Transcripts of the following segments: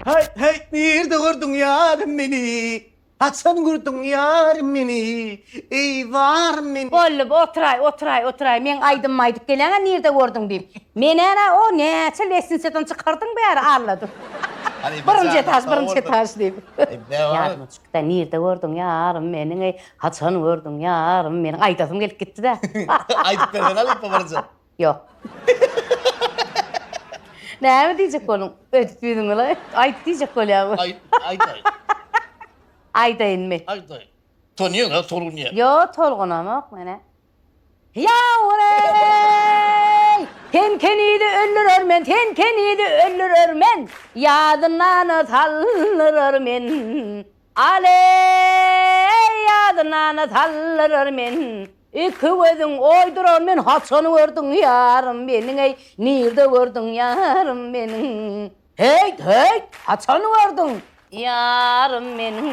Hey hey nirde gördüň ýarym meni Haçan gördüň ýarym meni Eý zarym meni Bolly otyraý otyraý otyraý meň aýdymymy aýdyp geläňä nirde gördüň diýip Men änä o näçe lesnisadan çykardyň bäri Alla dur Birinji etaž birinji etaž diýip Ýadyma çykda nirde gördüň ýarym meniň eý Haçan gördüň ýarym meniň aýdasym gelip gitdidä Aýdyp bersene halypa birje. Ýok. Näme diýjek boluň? Öýdüp ýüzüňi la. Aýt diýjek bolýaňmy? Aýt, aýdaýyn. Aýdaýynmy? Aýdaýyn. Tonyýeň-ä, tolgunýa. Ýo, tolgunamok men-ä. Ýawrey! Sen kenizi öldürer men, sen kenizi öldürer men, ýadyndan saldyrarmen. Aleý, ýadyňany saldyrar men, Iki gözüň oýdurar men, Haçan gördüň ýarym meniň, Eý, nirde gördüň ýarym meniň? Heýt, heýt, haçan gördüň ýarym meniň?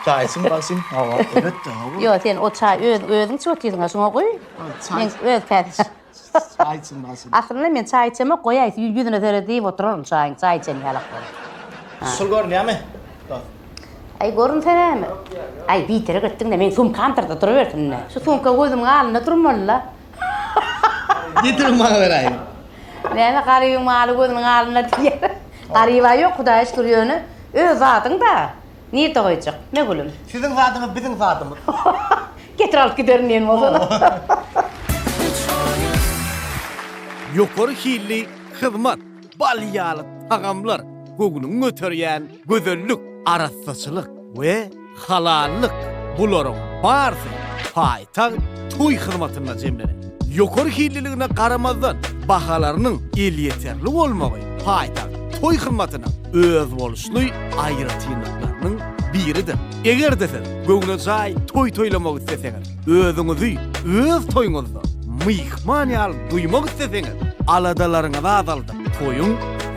Çaý içiň bagşym, hawa, elbetde, hawa. Ýok, sen o çaý öz, özüň içip otyryň-a, şuňa guý, men öz käte içerin. Çaý içilmezin. Aslynda men çaý içemok, goýaý siz ýüzüne seredip iýip oturaryn çaýyň, çaý içen ýalak bolup. Şul görünýärmi? Dos. Aý görünserämi? Aý biderek etdiň-dä, meň sumkamdyr-da durubersin-dä. Şu sumka gözümiň alnynda durmaly-la. Getirip maňa beräýiň. Näme Garybyň maly gözüniň alnynda diýýär. Garyba ýok Hudaýa şükür ýöne öz zadyň-da. Nirde goýjak? Ne gülüm? Siziň zadyňyz biziň zadymyz. Getir alyp giderin diýen bolsana. Ýokary hilli hyzmat, bal ýaly tagamlar, göwnüňi göterýän gözellik, arassaçylyk we halallyk bularyň barsy paýsyz. Tag toý hyzmatyna jemlenen. Ýokary hilliligine garamazdan, bahalarynyň elýeterli bolmagy paýtagt toý hyzmatynyň özboluşly aýratynlyklarynyň biridir. Eger-de siz göwnejaý toý toýlamak isleseňiz, özüňizi öz toýuňyzda myhman ýaly duýmak isleseňiz, aladalaryňyzy azaldyp, toýuň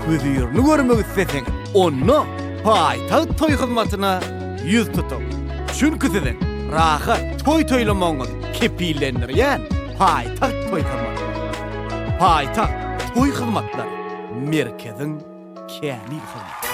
hözirini görmek isleseňiz, onda paýtagt toý hyzmatyna ýüz tutuň. Çünki siziň rahat toý toýlamagyňyz kepillendirýän paýtagt toý hyzmaty. Paýtagt toý hyzmatlary merkeziň kämil hyzmaty.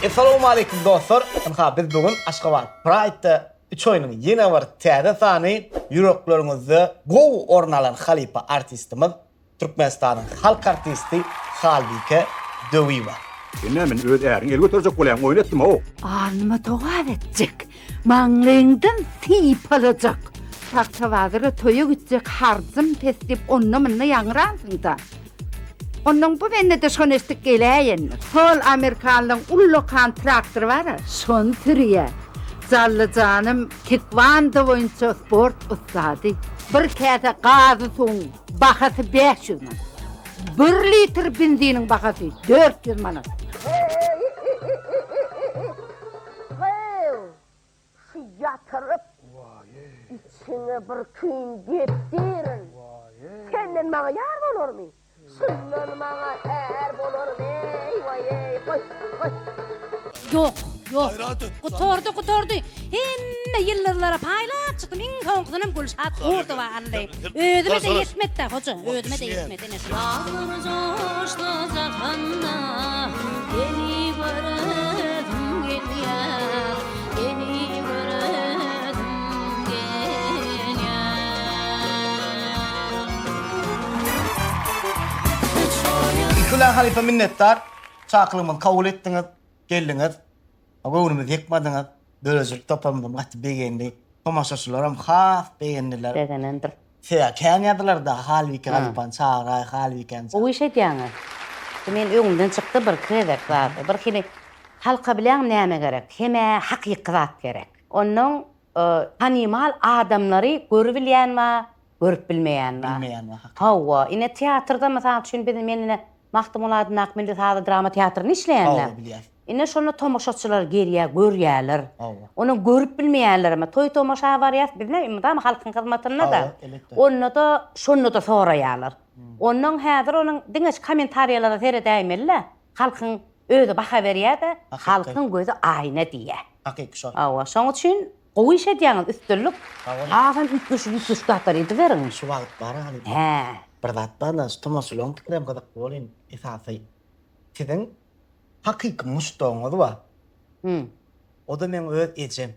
Essalowmaleýkum dostlar! Ynha biz bu gün Aşgabat Pride-de Üç oýnuň ýene bir täze sany ýürekleriňizde gowy orun alan halypa artistimiz, Türkmenistanyň halk artisti Halbike Döwiýewa. Sen nä men öz äriň el göterjek bolýan oýun etdimok. Alnyma dogap etjek, maňlaýyňdan sypalajak. Pagtabazyra toýa gitjek harjym pes diýip onda-munda ýaňyransyňda. Onnoň bu bende-de şony eşitdik geläýendir. Sol amerikanlyň uly lokan traktory bar-a, şony sürýär. Jally janym tekwondo boýunça sport ussady. Bir käse gazy suwuň bahasy bäş ýüz manat. Bir litr benziniň bahasy dört ýüz manat. Şu ýatyryp, içiňe bir küýn depdirin. Senden maňa ýar bolarmy? Şundan maňa är bolarmy? Eý-waý-eý, goý, goý. Ýok, ýok. Gutardy, gutardy. Hemme ýyldyzlara paýlap çykdym, iň soňkysynam Gülşat Gurdowa aldy. Özüme-de ýetmedi-dä, hoja, özüme-de ýetmedi. Daglar joşsa jahanda, Seni göresim gelýär, Seni göresim gelýär. Nikula halypa minnetdar, çakylygymyzy kabul etdiňiz, geldiňiz, göwnümizi ýykmadyňyz, döredijilik toparymyzam gaty begendi, tomaşaçylaram has begendiler. Begenendir. Sebäbi kän ýazylarda halbike halypany çagyraý, halbikeni çagyraý. Gowy iş edýäňiz. Şu meniň öňümden çykdy bir gezek zady. Bir hili halka bilýäňmi näme gerek? Hemä hakyky zat gerek. Onnoň tanymal adamlary görübilýän bar, görüp bilmeýän bar. Bilmeýän bar hakyky. Hawa, ine teatrda mysal üçin biz men ine Magtymguly adyndaky milli sazly drama teatrynda işleýändim. Hawa, bilýäs. Ine şonda tomaşaçylar gelýär, görýärler. Onam görüp bilmeýänler hem. Toý-tomaşa barýas biz näme mydama halkyň hyzmatynda-da. Onda-da şonda-da soraýarlar. Ondan häzir onuň diňe şu kommentariýalara seredäýmeli-de, halkyň özi baha berýär-de, halkyň gözi aýna diýýär. Hakyky şol. Hawa, şoň üçin gowy iş edýäňiz, üstünlik. Hasam üýtgeşik-üýtgeşik zatlar ediberiň. Şu wagt bar-a halypa. Hä. Bir zat bar-da, şu tomaşalaryň pikirem gyzykly bolýan esasy. Siziň Hakyky muşdagyňyz bar. Hü. O-da meň öz ejem.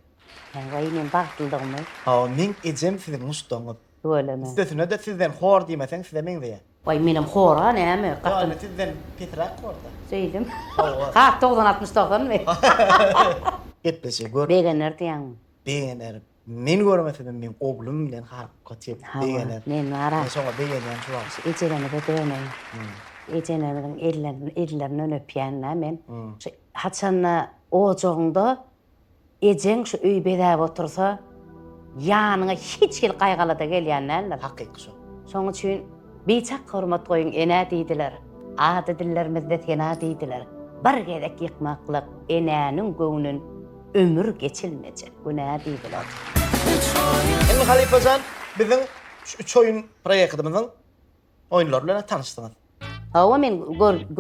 Haý-waý, meň bagtlydygymy? Hawa, meň ejem siziň muşdagyňyz. Tüweleme. Üstesine-de sizden hor diýmeseň size meňzeýär. Waý, menem hor-a, näme, gaty. Ýa, indi sizden pesiräk hor-da. Şeýdem. Hawa. Has, dogsan-altmyş-dogsanmy? Gepleşigi gör. Begener diýýäňmi? Begenerin. Men görmesedim meň oglum bilen halka çep begener. Men bar-a. Men şoňa begenýän şu wagt. Şu ejelerimize döneýin. Ejelerimiziň ellerini ellerinden öpýän-dä men. Şu haçanda ojagyňda ejeň şu öýi bezäp otursa, ýanyňa hiç hili gaýgy-alada gelýän däldir. Hakyky şo. Şoň üçin biçak hormat goýuň enä diýdiler. Ady dillerimizde sena diýdiler. Bir gezek ýykmaklyk enäniň göwnün. Ömür geçilmejek günä diýdiler. Indi halypajan biziň şu üç oýun proýektimiziň oýunlary bilen tanyşdyňyz. Hawa men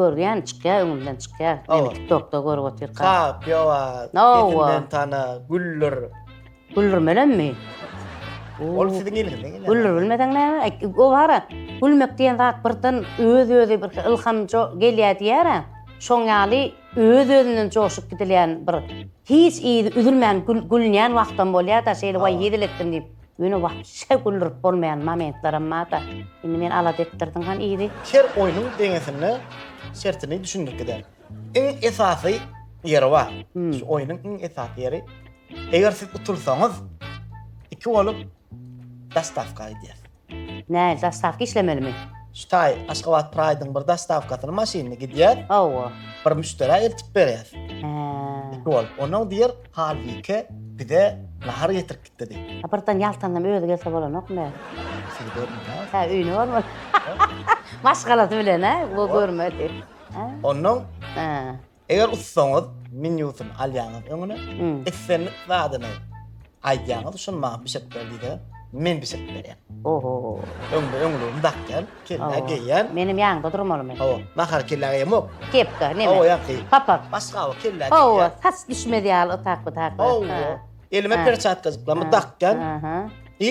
görýän çykýar öňümden çykýar. Meni TikTokda görüp otyr. Kap, ýowa. Ýetinden tana, güller. Güller bilenmi? Ol siziň eliňizden gelýär. Güller bilmeseň näme? O bara gülmek diýen zat birden öz-özi bir ylham gelýär diýýär. Şoň ýaly Öz-özünden joşup gidilýän bir hiç yzy üzülmän gülünýän wagtam bolýar-da, şeýle waý hezil etdim diýip, ýöne wapşe güldürip bolmaýan momentlerim bar-da. Indi meni alada etdirdiň han yzy. Her oýnuň deňesinde şertini düşündirip giderin. Iň esasy ýeri bar. Şu oýnuň iň esasy ýeri, eger siz utulsaňyz, iki bolup daş tapka gidýärsiň. Näý, zastawka işlemelimi? Şutaý, Aşgabat Praýdyň bir zastawkasyny maşynly gidýär. Hawa. Bir müşderä eltip berýär. Hä. Iki bolup. Onuň diýer, Halbike bize nahar getirip gitdi diý. A birden ýaltanlam özi gelse bolanokmy? Sizi görmedi-ä. Hä, öýüne barmady. Maşgalasy bilen-ä, görmedi. Onnoň Hä. Eger ussaňyz menýusyny alýaňyz öňüne, islendik zadyny aýdýaňyz, şuny maňa bişirip ber diýse, men bişirip berýän. Oho. Öňde öňlügimi dakýan, kellä geýýän. Menem ýanyňda durmaly men. Hawa, nahar kellä geýemok. Kepka, neme? Hawa, ýaňky. Papak. Başga bu kellä geýýän. Hawa, tas düşmez ýaly ytak-pytak. Hawa. Elime perçatkajyklamy dakýan. Aha. I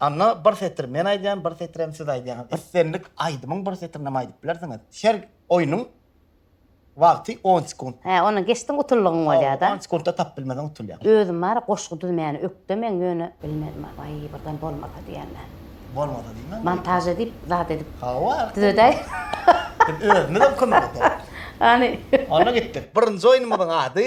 Anna bir setir men aýdýan, bir setirem siz aýdýaňyz. Islendik aýdymyň bir setirini hem aýdyp bilersiňiz. Her oýnuň wagty on sekunt. Hä, ony geçdiň utuldygyň bolýada. On sekuntda tapyp bilmeseň utulýaň. Özüm bar goşgy düzmäni ökdemen ýöne bilmedim a baý birden bolmasa diýenden. Bolmasa diýmäň. Montaž edip zat edip. Hawa. Düzedäý. Biz özümizem kömek ederis. Hany. Onda gitdik. Birinji oýnumyzyň ady.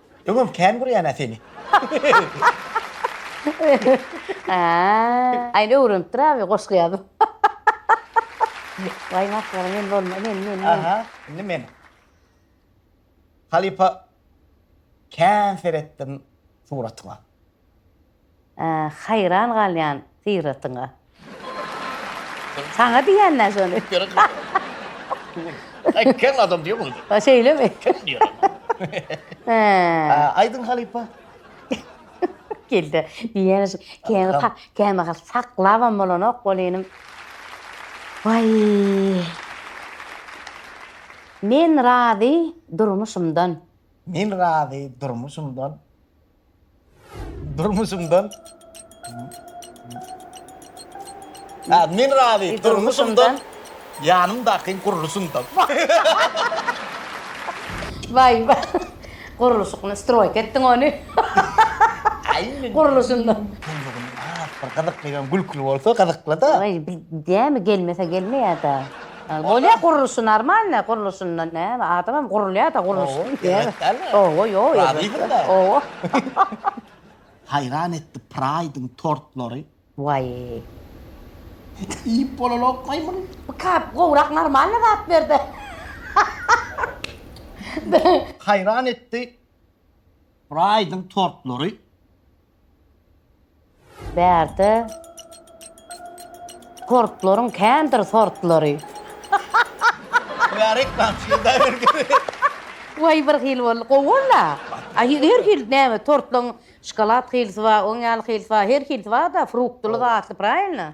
Öňem kän görýän-ä seni. Aý, indi öwrenipdir abi goşgy ýazyp. Waý masgara men bolma, men, men, men. Aha, indi men. Halypa kän seretdim suratyňa. Haýran galýan syratyňa. Saňa diýenler şony. Aý kem adam diýýä muny. Ha şeýlemi? Kem diýýä. Aýdyň halypa. Geldi. Diýýän şu kemi ha kemi ha saklabam bolanok bol inim. Waý. Men razy durmuşymdan. Men razy durmuşymdan. Durmuşumdan Ha, men razy. Durmuşumdan ýanymdaky gurluşumdan. Waý, waý. Gurluşygyny stroýk etdiň ony. Aýn. Gurluşyndan. Gurlugyny az bir gyzykly hem gülküli bolsa gyzykly-da. Waý, bir dämi gelmese gelmeýär-de. Bolýa gurluşy normalny gurluşyndan näme adamam gurulýada gurluşdan näme owo ýok razysyňda owo Haýran etdi praýdyň tortlary. Waý. Iýip bolalok maýmyn. Bu kap gowrak normalny zat berde. Haýran etdi praýdyň tortlary. Bärde portlaryň kändir sortlary. Mübärek balam şeýle bergeri. Waý bir hili boldy. Gowy boldy-a. A her hili näme tortlaryň şokolad hilisi bar, oň ýaly hilisi bar, her hilisi bar-da, fruktly zatly, prawilno?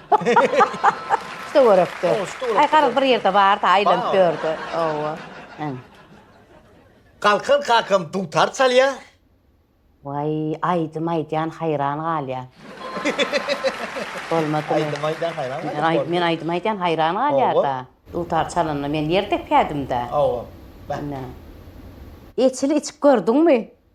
Töwerekde. Aý garaz bir ýerde bardy aýlanyp ýördi. Hawa. Äň. Galkan kakam dutar çalýa. Waý aýdym aýdýan haýran galýan. Bolmadymy. Aýdym aýdýan haýran galýan. Men aýdym aýdýan haýran galýada. Dutar çalanda men ýer depädim-dä. Hawa. Ine. Eçili içip gördüňmi?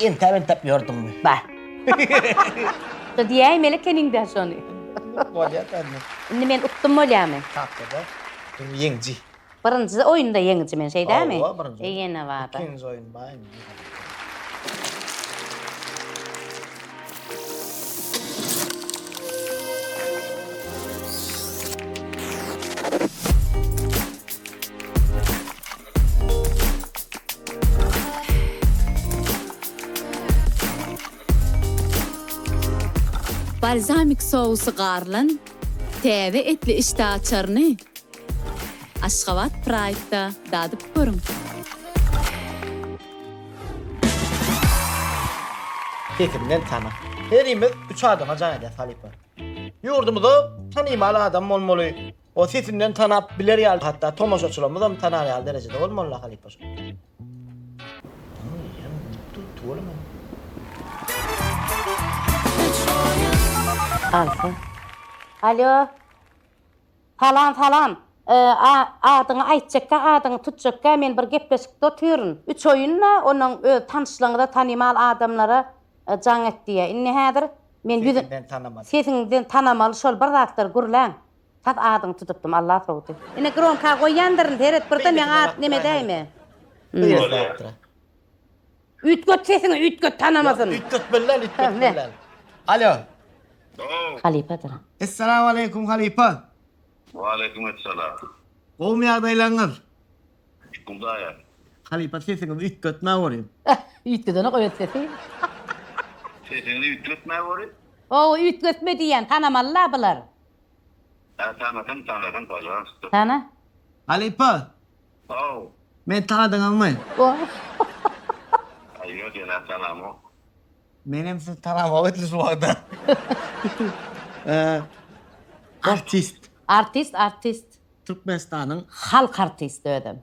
Entäp-entäp ýördüňmi? Ba. Şo diýäýmeli ekeniň-dä şony. Bolýar bende. Indi men utdum bolýamy? Tapdyda dur ýeňji. Birinji oýunda ýeňiji men, şeý dälmi? Hawa, birinji oýun. Ýene bar-da. Ikinji oýun bar indi. Balzamik sousy garylan täze etli işdä açaryny Aşgabat Pride-da dadyp görüň! Sesinden tanyk. Herimiz üç adama jan edýäs halypa. Ýurdumyzda tanymal adam bolmaly. O sesinden tanap biler ýaly, hatda tomaşaçylarymyzam tanar ýaly derejede bol Molla halypa şol. Alsa. Alo. Salam, salam. Adyňy aýtjakka, adyňy tutjakka men bir gepleşikde otyryn. Üç oýunda onuň öz tanyşlaryňyza, tanymal adamlara jaň et diýýä. Indi häzir men ýüzün Sesiňden tanamaly. Sesiňden tanamaly şol bir zatlar gürläň. Tas adyňy tutupdym Allah sowdy. Ine gromka goýýandyryn seret bir de meň at neme däýme. Beýle zatdyra. Üýtget sesiňi üýtget tanamasyn. Ýok üýtget billen üýtget billen. Alo. Salam. Halypadyr. Essalamu aleýkum halypa. Wa aleýkum essalam. Gowmy ýagdaýlaryňyz? Hudaýa. Halypa sesiňizi üýtgetmä gorýn. Üýtgedene goý et sesi. Sesiňizi üýtgetmä gorýn. Hawa üýtgetme diýýän tanamaly la bular. Sen tanadyň tanadyň pažalsta. Tana. Halypa. How. Meni tanadyňyzmy. How. Aý ýok ýöne tanamok. Menem sizi tanamok edil şu wagta. Artist. Artist artist. Türkmenistanyň. Halk artisti özem.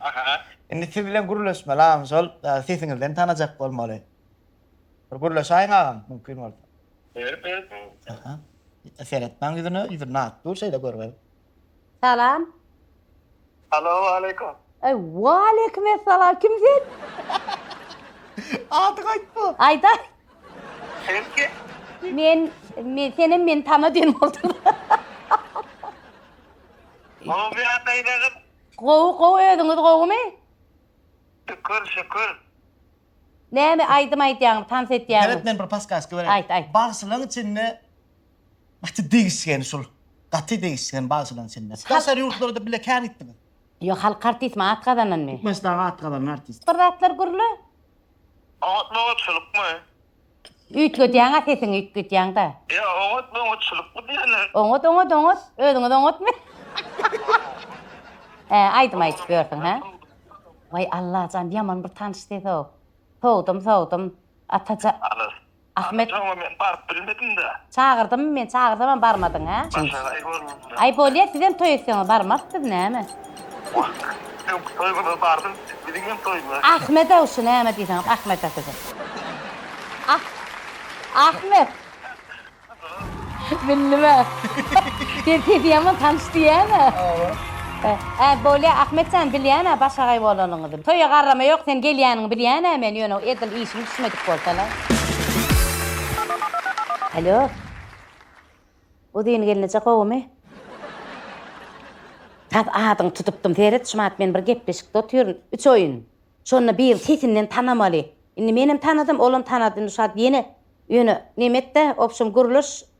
Aha indi siz bilen gürleşmeli agam şol sesiňizden tanajak bolmaly. Bir gürleşaýiň agam mümkin bolsa. Ber ber ber. Aha. Seretmäň ýüzüne ýüzü nagt dur şeýle görgeli. Salam. Alo waleýkum. Eý waleýkim essalam kim sen? Adyňy aýtma. Aýdaý. Sen kim? Men men senem meni tana diýen bolduň. Ow ýa beýle gyz. Gowy gowy özüňiz gowumy. Şükür şükür. Näme aýdym aýdýaňmy tans etýäňmi. Seret men bir paskaska bereýin. Aýt aýt. Bagşylaň içinde gaty degişgen şul. Gaty degişgen bagşylaň içinde. Daşary ýurtlarda bile kän gitdiňiz. Ýok halk artistmi at gazananmy. Türkmenistanda at gazanan artist. Bir zatlar gürle. Oňatmaga çulukmy. Üýtgedýäň-a sesiňi üýtgedýäň-da. Ýa oňatmy oňatçylykmy diýýäler. Oňat oňat oňat özüňiz oňatmy. Hä aýdym aýdyp ýörsüň hä. Waý Allajan ýaman bir tanyş ses-ow. Sowdum sowdum Ataja Ahmet. Ataja oňa men baryp bilmedim-dä. Çagyrdymmy men çagyrsam barmadyň a. Başaga aý bolmazmy. Aý bolýa sizem toý etseňiz barmarys biz näme. Ýok toý bolsa bardym biziň hem toýuna. Ahmedow şu näme diýseňiz Ahmeda sizem. Ah Ahmet. Bildimä. Sen sesi ýaman tanyş diýýäňä. Hä, bolýa, Ahmet jan, bilýän-ä başagaý bolanyňyzy. Toýa garrama ýok, sen gelýäniňi bilýän-ä men, ýöne edil işiň düşmedik bolsa-la. Alýo. Uzyn gelneje gowumy? Tap adyňy tutupdym, seret, şumat men bir gepleşikde otyryn, üç oýun. Şonda birini sesinden tanamaly. Indi menem tanadym, olam tanady, indi şuwagt ýene, ýöne, neme et-de, obşem gürleş.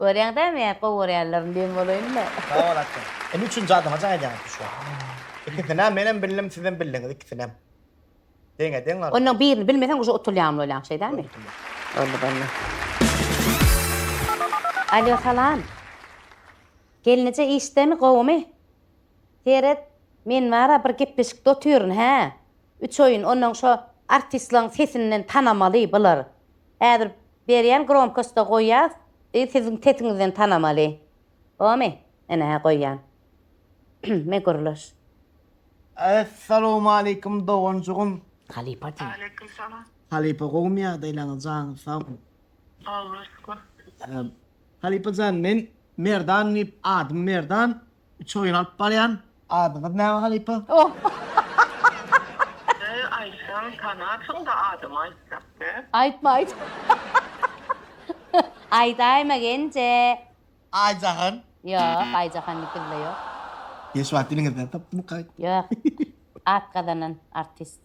Görýäň dämi gowy görýänlerim diýen bolaýynda. Sag bol atjan. Indi üçünji adama jaň edýäňiz düşýär. Ikisinäm menem bildim sizem bildiňiz ikisinem. Deňe deň galyp. Ondan birini bilmeseň uje utulýan bolýaň şeýdämi. Boldy boldy. Alýo salam. Gelneje işdemi gowymy. Seret men bara bir gepleşikde otyryn hä. Üç oýun ondan şo artistlaň sesinden tanamaly bular. Häzir Berýän gromkostda goýýas i siziň sesiňizden tanamaly. Bomy? Ene hä goýýan. Me gürleş. Essalamualeýkum doganjygym. Halypa diýiň. Aleýkum salam. Halypa gowmy ýagdaýlaryňyz janyňyz sagmy. Alla şükür. Halypa jan men Merdan diýip adym Merdan. Üç oýun alyp barýan. Adyňyz näme halypa? Ee aýtsaň tanarsyňda adymy aýtsak be. Aýtma aýt. Aýdaýma genje. Aýjahan. Ýok Aýjahan dikilde ýok. Hiç wagt diliňizden sypmykaý. Ýok. At gazanan artist.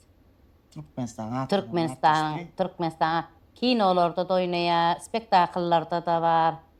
Türkmenistan at gazanan artistmi? Türkmenistanyň Türkmenistanyň kinolarda da oýnaýar, spektakllarda da bar.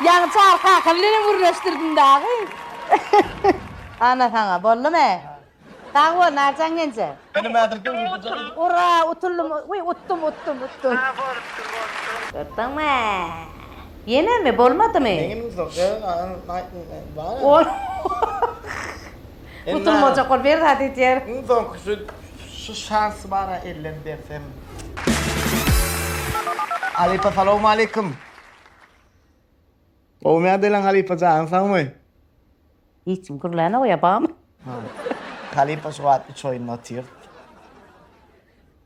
Ýaňy Çary kaka bilen hem gürleşdirdim dagy. Ana saňa, boldumy? Sag bol, Narjan genje. Ura, utuldym, wiý, utdum, utdum, utdum. A, bolupdyr, bolupdyr. Gördiňmi? Ýenemi, bolmadymy? Meňem uzak, ýa, aýtma, bar. Utulmajak bol bir zat edýär. Iň soňkusy şu şansy bara ellem bersem. Halypa salowmaleýkim. Gowumyýa diýlen halypa janyň sagmy. Hiç kim gürlän oýa bamy. Halypa şu wagt üç oýunda otyr.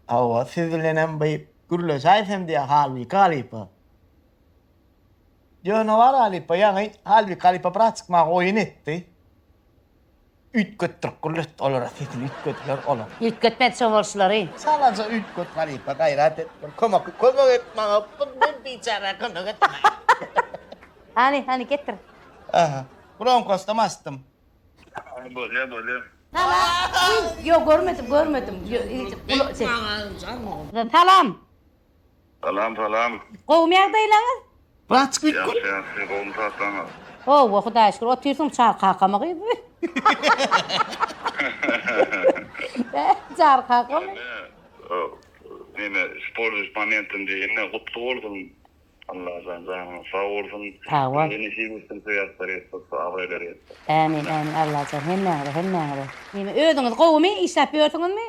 Hawa siz bilenem by gürleşäýsem diýýä halbiki halypa. Ýöne bar halypa ýaňy halbiki halypa braçik maňa oýun etdi. Üýtgetdirip gürlet olara sesini üýtgediler olar. Üýtgetmedi şo bolşulary. Çalaja üýtget halypa gaýrat et bir kömek kömek et maňa bir biçärä kömek et. Hany hany getir. Aha bronkosdam asdym. Bolýa bolýa. Hana ýok görmedim görmedim. Salam. Salam salam. Gowumy ýagdaýlaňyz. Raçk etdi. Ýagşy ýagşy gowumy zatlaňyz. Howwa hudaýa şükür otyrsyň çar kakamy gyz. Çar kakamy. Neme isporluş momentim diýe indi gutly bolsun Allajan janyňyz sag bolsun hemde nesip etsin söýatlar ýetsin abraýlar ýetsin. Ämin ämin Allajan hemmäňize hemmäňize. Neme özüňiz gowumy işläp ýörsüňizmi.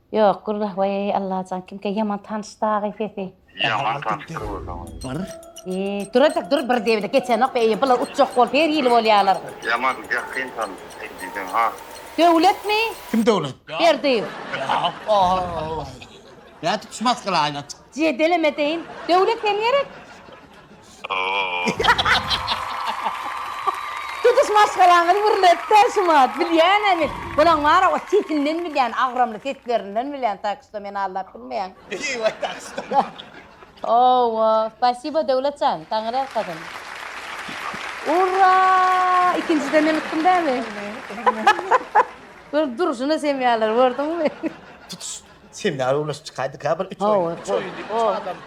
Ýok gürrah weýýy Allajan kimkä ýaman tanyş dagy sesi. Ýaman tanyş gürrüň. Eý durajak dur bir debile geçenok eý bular utjak bolup her hili bolýalar. Ýaman ýakyn tanyş diýseň has. Döwletmi? Kim Döwlet? Berdiýew. Nädip şu maskaly aýna çykdy. Jedelemedeýin. Döwlet sen gerek. Tutuş maşgalaňyz gürletdi, Şumat, bilýänemi? Bulaň bar-a, o sesinden bilýän, agramly seslerinden bilýän, tak şto meni aldap bilmeýäň. Eý-we, tak şto. Hawa, spasibo, Döwlet jan, Taňry ýalkasyn. Urra! Ikinjiden hem utdum dämi? Görüp durşuna semýäler, gördüňmi? Tutuş. Semýa öwlüş çykaýdyka bir üç oýun. Üç oýun diýip üç adam.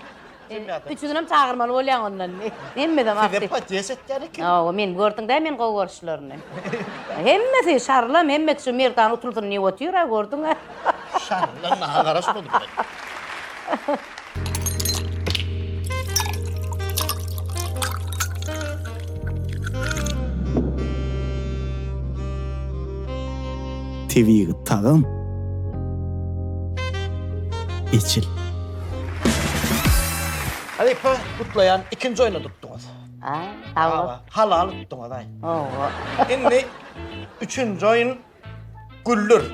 Üçüsinem çagyrmaly bolýaň ondan. Hemmeden artyk. Size podýes etýän eken. Hawa, men gördüňdä men gowy görşlerini. Hemmesi şarlam, hemmesi şu Merdan utulsyn diýip otyr-a, gördüň-ä. Şarlam, maňa garaşmady bile. Tebigy tagam. Eçil. Halypa, gutlaýan, ikinji oýna tutduňyz. A, sag bol. Halal tutduňyz, aý. Owo. Indi üçünji oýun Güldür.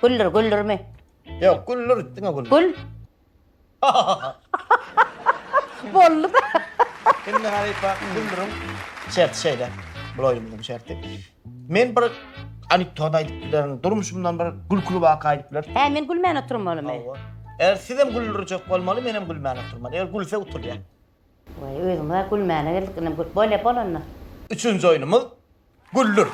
Güldür, güldürmi? Yok güldür diňe güldür. Gül. Boldy da. Şimdi Halifa güldürüm. Şert şeyde. Bu oyunumuzun şerti. Men bir anekdot aytıp bilerin. Durmuşumdan bir gülkülü vaka aytıp bilerin. He men gülmän oturum bolum. Hawa. Eğer siz hem güldürecek olmaly, men hem gülmän oturmaly. Eğer gülse oturýar. Vay özümiz gülmäne geldik. Böyle bol onda. Üçünji oyunumuz Güldür.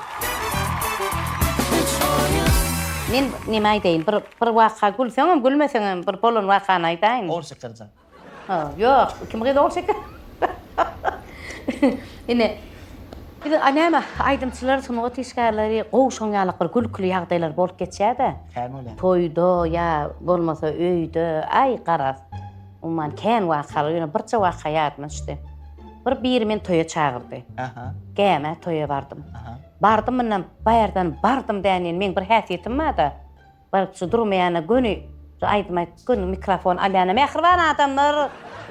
Men neme aýdaýyn? Bir bir waka gülseňem, gülmeseňem bir bolan wakany aýdaýyn. Ogul şekerjan. Ha, ýok. Kim gyz ogul şeker? Ine. Biz a näme aýdymçylar, sungat işgärleri gowy şoň ýalak bir gülküli ýagdaýlar bolup geçýär-de. Toýda ýa bolmasa öýde, aý garaz. Umuman kän wakalar, ýöne birje waka ýadyma düşdi. Bir biri meni toýa çagyrdy. Gämä toýa bardym. Bardym mundan baýardan bardym däneýin. Meň bir häsiýetim bar-da, bir şu durmaýana göni şu aýdym aýdyp, göni mikrofon alýan-a, Mähriban adamlar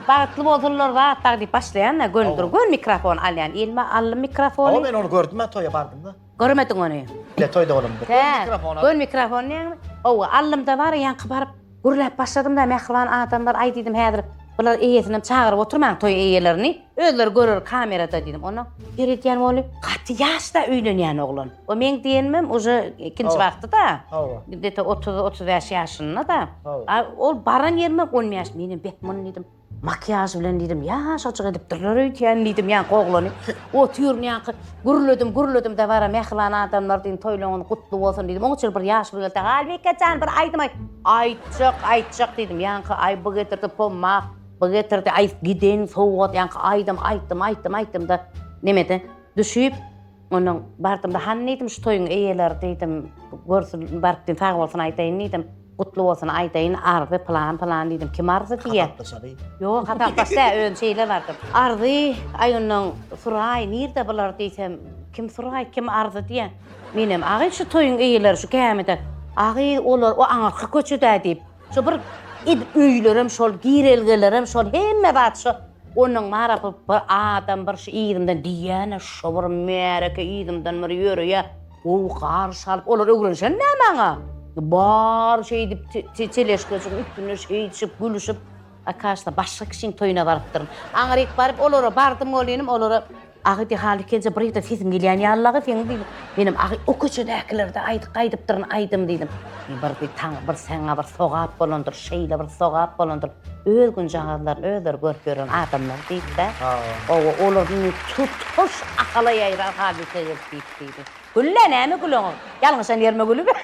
bagtly bolsunlar, wah-wah diýip başlaýan-a, göni durup, göni mikrofon alýan. Elime aldym mikrofony. Hawa, men ony gördüm-ä, toýa bardym-da. Görmediň ony. Ine toýda bolandyr. Hä, Gör mikrofon al. Gör mikrofon diýýäňmi? Owa, aldym-da bar, ýaňky baryp gürläp başladym-da, mähriban adamlar, aý diýdim, häzir bular eýesinem çagyryp oturmaň toý eýelerini, özleri görer kamerada diýdim. Onsoň seredýän boly, gaty ýaş-da öýlenýän oglan. O meň diýenimem uje ikinji wagty-da. Hawa. Gde-to otuz, otuz bäş ýaşynda-da. Hawa. Ol baran ýerimem on bäş, menem bek myn diýdim. Makiýaž bilen diýdim, ýaşajyk edipdirler öýdýän diýdim, ýaňky oglany otyryn ýaňky gürledim, gürledim dabara mähriban adamlar diýdim, toýlaryňyz gutly bolsun diýdim, oňa çenli bir ýaşuly geldi, Halbike jan, bir aýdym aýt! Aýtjak, aýtjak diýdim, ýaňky aý bu getirdi pommak, bu getirdi aý giden sowgat, ýaňky aýdym aýtdym, aýtdym, aýtdym-da, nemede düşüp, Ondan bardym-da, Hany diýdim, şu toýuň eýeleri diýdim, görsün, baryp diýdim, sag bolsun aýdaýyn diýdim, gutly bolsun aýdaýyn, Arzy pylan-pylan diýdim, kim Arzy diýýär? Hasaplaşaly. Ýok, hasaplaş däl, özüm şeýle bardym. Arzy, aý ondan Suraý, nirde bular diýsem, kim Suraý, kim Arzy diýýär. Menem, Agy, şu toýuň eýeleri şu gämide. Agy, olar o aňyrky köçede diýip. Şo bir edip öýlerem şol, girelgelerem şol, hemme zat şo. Ondan bar a bir bir adam bir şu yzymdan diýýän-ä şo bir märeke yzymdan bir ýöreýä. Gowy garşy alyp, olar öwrenişen-dä maňa. Bary şeýdip te-te teleşkaçyň üstünde şeýdişip, gülüşip. Akaşda başga kişiň toýuna barypdyryn. Aňryk baryp olara bardym welinem olara Agy diýip hal ikenje bir ýerden sesim gelýän ýalylagy seň diýdim. Menem agy o köçedäkilerde aýdyk aýdypdyryn aýdym diýdim. Bir diý taň bir saňa bir sogap bolandyr şeýle bir sogap bolandyr öz günjagazlaryny özleri görüp ýören adamlar diýipdä. Hawa olar indi tutuş Ahala ýaýran hadysa gelip diýip diýdi. Güllä näme güleňok. Ýalňyşan ýerime gülübe.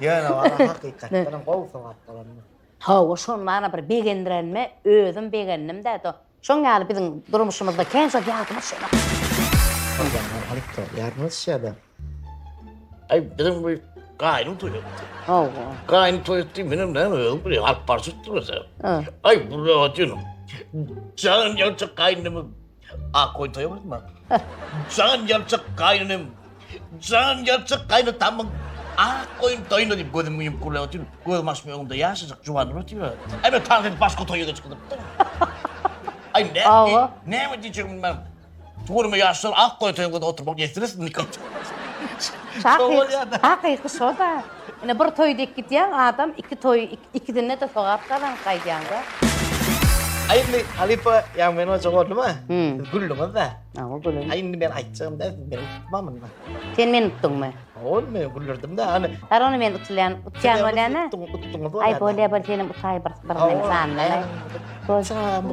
Ýöne walla hakykatdanam gowy sogap bolandyr. Hawa, şony maňa bir begendirenime özüm begendim-dä, do. Şoň ýaly biziň durmuşymyzda kän şol ýazmyş ýa-da. Horlanýan halypdy, ýazmyş ýa-da. Aý, biziň bu gaýnym toý etdi. Hawa. Gaýnym toý etdi, menem näme özüm bilýän, alyp barşypdyr özem. Aý, bu rahat ýöne. Jan ýagşy gaýnymyz. A koýun toýa bardyma. Jan ýalçak gaýnynym, jan ýalçak gaýnatamyň ak goýun toýuna diýip gözümi ýumup gürläp otyryn. Gözümi açyp öňümde ýaşajyk juwanlar otyr. Aý men taň edip başga toýa geçip gidipdir. Aý näme, näme diýjegimi bilmän. Tuguryma ýaşlar ak goýun toýuna oturmak ýetirsin. Hakyky şo-da. Ine bir toý diýip gidýäň adam iki toý ikisinde-de sogap gazanyp gaýdýaňda. Aý indi halypa ýa men oja boldumy? Siz güldüňiz-dä. Hawa gülüm. Aý indi men aýtjagym-da siz meni utma munda. Sen meni utduňmy? Hawa indi men güldürdim-dä hany. Har onda men utulýan utýan bolýan-a. Utduňyz-a. Aý bolýa bol senem utaý bir bir men sandan-aý. Hawa.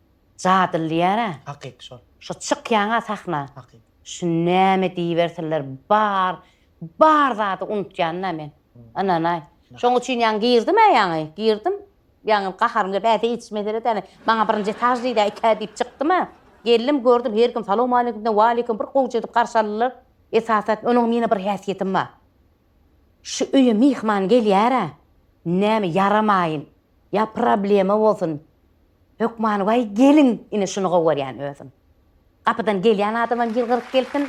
Jadyly diýär-ä. Hakyky şol. Şu çykýaň-a sahna. Hakyky. Şu näme diýibersinler, bar, bar zady unutýan-da men. Ynanaý. Şoň üçin ýaňy girdim-ä ýaňy, girdim. Ýaňy gaharym gelip, Äýse hiç mesele däl, ýaňy maňa birinji etaž diýdi-ä, ikä diýip çykdym-a. Geldim, gördüm, her kim salawmaleýkimden waleýkim, bir gowja edip garşy aldylar. Esasan, onuň meniň bir häsiýetim bar. Şu öýe myhman gelýär-ä, näme ýaramaýyn, ýa problema bolsun, hökmany waý gelin ine şuny gowarýan özüm. Gapydan gelýän adamam ýylgyryp gelsin,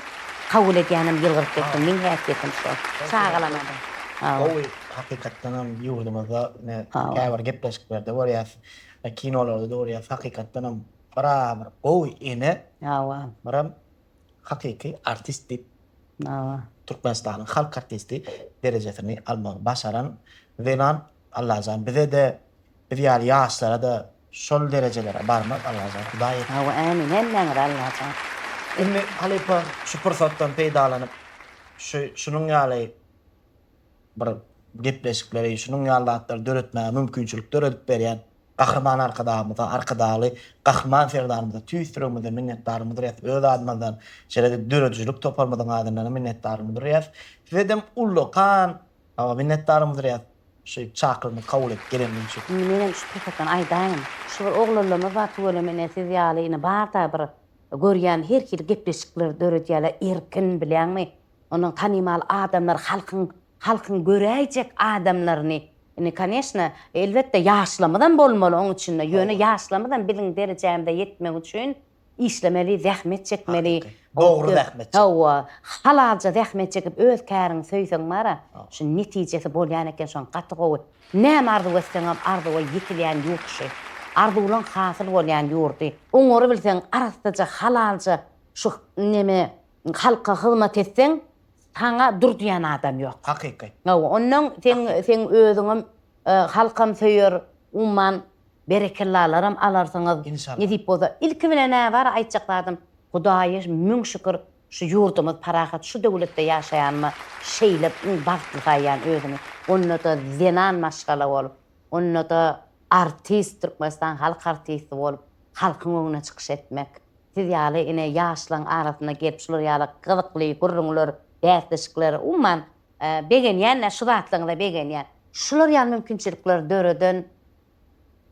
kabul edýänem ýylgyryp gelsin, meň häsiýetim şo. Çagalamada. Gowy, hakykatdanam ýurdumyzda ine käbir gepleşiklerde görýäs, kinolarda-da görýäs, hakykatdanam bir-a bir gowy ene, biram hakyky artist diýip Türkmenistanyň halk artisti derejesini almagy başaran zenan Allajan bizede biz ýaly ýaşlarada şol derejelere barmak Allajan hudaý etsin. Hawa ämin hemmäňize Allajan. Indi halypa şu pursatdan peýdalanyp şu şunuň ýaly bir gepleşikleri şunuň ýaly zatlary döretmäge mümkinçilik döredip berýän Gahryman Arkadagymyza, Arkadagly Gahryman Serdarymyza tüýs ýüregimizden minnetdarlygymy bildirýäs, öz adymyzdan, şeýle-de döredijilik toparymyzyň adyndanam minnetdarlygymy bildirýäs. Sizedem ullakan minnetdarlygymy bildirýäs, şu çakylygymy kabul edip geleniňiz üçin. Indi menem şu pursatdan aýdaýyn, şu bir oglanlarymyz bar, tüweleme ine siz ýaly ine bar-da bir görýän her hili gepleşikleri döredýärler, erkin bilýäňmi, Onuň tanymal adamlary halkyň halkyň göräýjek adamlaryny indi koneşna elbetde ýaşlamyzam bolmaly oň içinde ýöne ýaşlamyzam biziň derejämize ýetmek üçin işlemeli zähmet çekmeli dogry zähmet hawa halalja zähmet çekip öz käriňi söýseň bara şu netijesi bolýan eken şoň gaty gowy näme arzuw etseňem arzuwa ýetilýän ýurt şu arzuwlaň hasyl bolýan ýurdy oňary bilseň arassaja halalja şu neme Halka hyzmat etseň, saňa dur diýen adam ýok. Hakyky. Hawa, ondan seň seň özüňem halkam söýer, umman berekellalaram alarsyňyz. Inşallah. Nesip bolsa. Ilki bilen-ä bar aýtjak zadym, Hudaýa müň şükür, şu ýurdumyz parahat, şu döwletde ýaşaýanyma şeýle iň bagtly saýýan özümi. Onda-da zenan maşgala bolup, Onda-da artist, Türkmenistan halk artisti bolup, halkyň öňüne çykyş etmek. Siz ýaly ine ýaşlaň arasyna gelip şular ýaly gyzykly gürrüňler, bäsleşikler, umuman begenýän-ä şu zatlaryňyza begenýän. Şular ýaly mümkinçilikleri döreden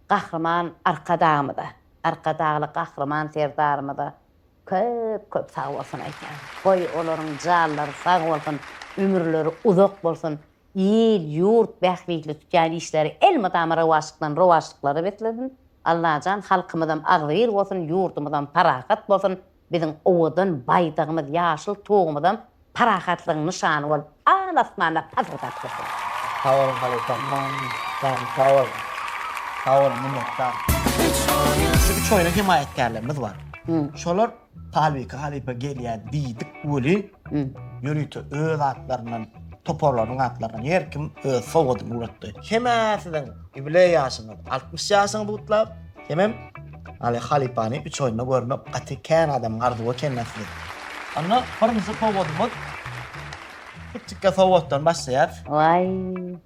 Gahryman Arkadagymyza, Arkadagly Gahryman Serdarymyza Köp köp sag bolsun aýtýan. Goý olaryň janlary sag bolsun, ömürleri uzak bolsun, il, ýurt bähbitli tutýan işleri elmydama rowaçlykdan rowaçlyklara beslesin. Allajan halkymyzam agzybir bolsun, ýurdumyzam parahat bolsun, biziň owadan baýdagymyz, ýaşyl tugumyzam Parahatlygyň nyşany bolup al asmanda pasyrdap dursun. Sag bol halypa man jan sag bol sag bol minnetdar. Şu üç oýna hemaýatkärlerimiz bar. Şolar Palwiki halypa gelýä diýdik weli ýörite öz atlaryndan toparlarynyň atlaryndan her kim öz sowgadyny ugratdy. Hemäsiziň ýubileý ýaşyňyz altmyş ýaşyňyz gutlap. Hemem Aly halypany üç oýunda görmek gaty kän adamyň arzuwy eken nätdi. Onda birinji sowgadymyz kiçikkä sowgatdan başlaýas. Waý.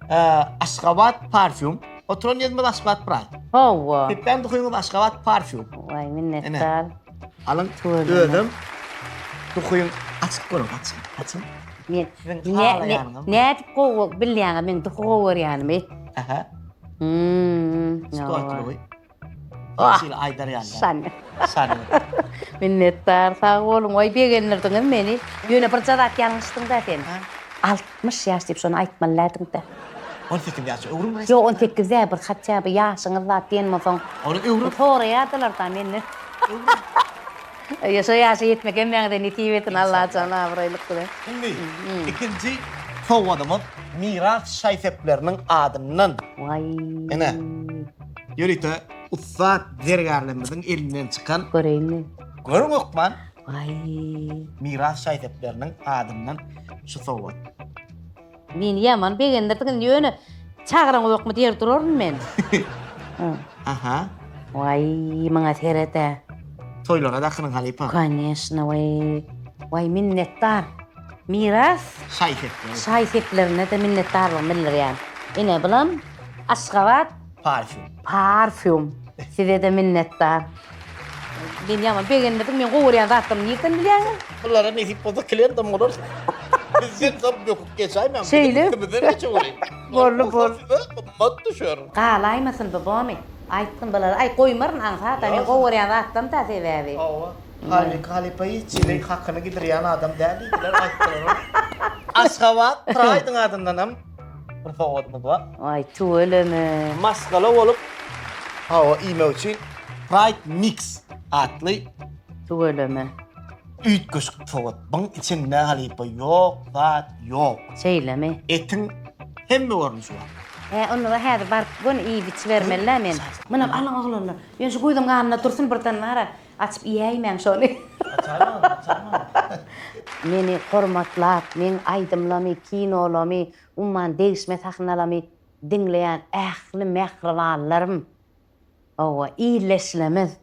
Aşgabat parfýum. Oturan ýerimiz Aşgabat Praý. Hawa. Sepden duhyňyz Aşgabat parfýum. Waý minnetdar. Alyň özem duhyň açyk görüň açyň açyň. Men nädip gowy bilýäňiz men duhy gowy görýänimi. Aha. Hmm, Sportlugy. Ah, Şeýle aýdar ýaly. Şan. Şan. Minnetdar, sag boluň. Oý, begendirdiňiz meni. Ýöne bir jazat ýalňyşdyň-da sen. Ha? 60 ýaş diýip şony aýtmalydyň-da. 18 ýaş öwrüm resmi. Ýok, 18 däl, bir hatça bir ýaşyňyz zat diýen bolsaň. Ony öwrüm. Soraýardylar-da menden. Öwrüm. Eje şo ýaşa ýetmek hemmäňize nesip etsin Allajan abraýlyk bilen. Indi ikinji sowgadymyz Miras şaý-sepleriniň adyndan. Ene, ýörite ussat zergärlerimiziň elinden çykan. Göreýinmi? Görüň hökman. Waý. Miras şaý-sepleriniň adyndan şu sowgat. Meni ýaman begendirdiňiz ýöne çagyraňyzokmy diýer duraryn men. Aha. Waý, maňa seret-ä. Toýlara dakynyň halypa. Koneşna, waý. Waý, minnetdar. Miras. Şaý-sepler. Şaý-seplerine-de minnetdarlygymy bildirýän. Ine, bulam Aşgabat Parfýum. Parfýum. Size-de minnetdar. Men ýaman begendirdiň, meň gowy görýän zatlarymy nirden bilýäňiz? Bulara nesip bolsa klientam bolarys. Bizden soň böküp geçäýmäň. Şeýle. Üstümizden geçeweriň. Boldy, bol. Size gymmat düşer. Galaýmasyn bu bomy? Aýtgyn bulara. Aý, goýmaryn aňsat-a, men gowy görýän zatlarym-da sebäbi. Hawa. Halyk halypa hiç hili hakyny gidirýän adam däl diýdiler, aýtdylar. Aşgabat Praýdyň adyndanam. Bir sowgatymyz bar. Aý tüweleme. Maşgala bolup hawa iýmek üçin Pride Mix atly. Tüweleme. Üýtgeşik sowgat. Buň içinde halypa ýok, zat ýok. Şeýlemi? Etiň hemme görnüşi bar. Hä, onda häzir baryp göni iýip-içibermeli-dä men. Munam alyň oglanlar. Ýöne şu guýyzyň ganynda dursun birden bar-a. Açyp iýäýmäň şony. Açarmyň, açarmyň. Meni hormatlap, meň aýdymlamy, kinolamy, umman degişme sahnalamy diňleýän ähli mähribanlarym, hawa, illeşlemiz,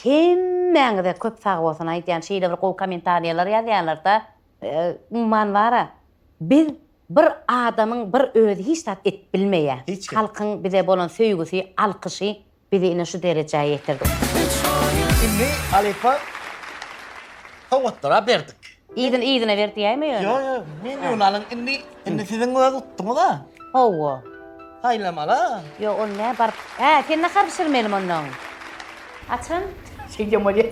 hemmäňize köp sag bolsun aýdýan, şeýle bir gowy kommentariýalar ýazýaňlarda, umman bara, biz bir adamyň bir özi hiç zat edip bilmeýä, halkyň bize bolan söýgüsi, alkyşy Bizi ine şu derejä ýetirdi. Indi Alepä sowgatlar-a berdik. Yzyny yzyna ber diýäýme ýöne. Ýok ýok, men ýöne alyň indi, indi siziň öz utduňyz-a. Hawa. Saýlamaly-a. Ýok ol nä baryp. Hä, sen nahar bişirmelimi onnoň? Açan. Şeýdýän bolýa.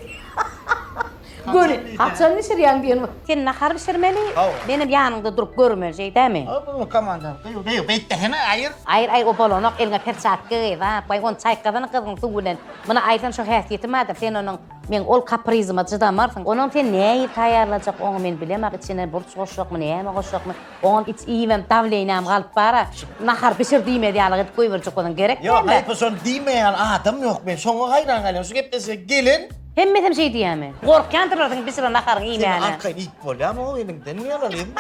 Göni, haçan bişirýäň diýen bor. Sen nahar bişirmeli, menem ýanyňda durup görmeli, şeýdämi? Hawa, komandan. Gyýw, gyýw, beýt desene, aýyr! Aýyr, aýyr, o bolanok, eliňe perçatka geý, zat goý, ony çaýkasana gyzgyň suw bilen. Muny aýyrsam şo häsiýeti bardyr, sen onuň, meň ol kaprizyma çydamarsyň. Onuň sen nähili taýýarlajak, oňa men bilemok, içine burç goşjakmy, näme goşjakmy. Oňa iç iýibem dawleniýam galyp bara. Şu nahar bişir diýmez ýalyk edip goýberjek bolsaň gerek däl-le. Ýok, haýp-a şony diýmeýän ýaly adam ýok. Men şoňa haýran galýan. Şu gepleşige gelen. Hemmesem şeý diýýämi? Gorkýandyrlar seniň bişiren naharyňy iýmäne. Seniň arkaýyn iýip bolýamy o eliňden ýaly iýip?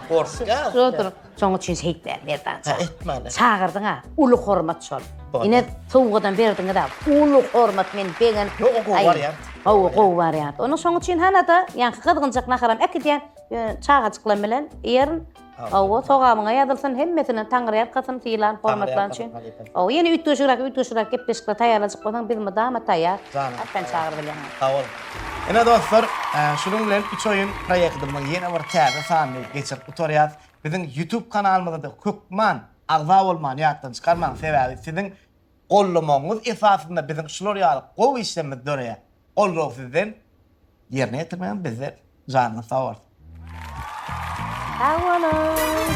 Gorkýan. Şo dur. Şoň üçin şeýt ber, Merdanjan. Hä, etmäne. Çagyrdyň-a, uly hormat şol. Ine, sowgadam berdiňiz-ä. Uly hormat men begenim. Ýok, o gowy barýar. Hawa, gowy barýar. Ony şoň üçin hana-da, ýaňky gyzgynjak naharam äkidýän. Ýöne çagajyklam bilen ýerin. Hawa, sogamyňa ýazylsyn, hemmesine Taňryýalkasyn, sylan, hormatlan üçin. Hawa, ýene üýtgeşigräk, üýtgeşigräk gepleşikler taýýarlajak bolsaň, biz mydama taýýar. Atdan çagyr bilen. Sag boluň. Ine, dostlar, şunuň bilen Üç oýun proýektimiziň ýene bir täze sanyny geçirip gutarýarys. Biziň YouTube kanalymyza-da hökman agza bolmany ýatdan çykarmaň, sebäbi siziň Gollamagyňyz esasynda biziň şular ýaly gowy işlerimiz döreýär. Goldaw sizden, ýerine ýetirmegiň bizden. Janyňyz sag bolsun. Sag boluň!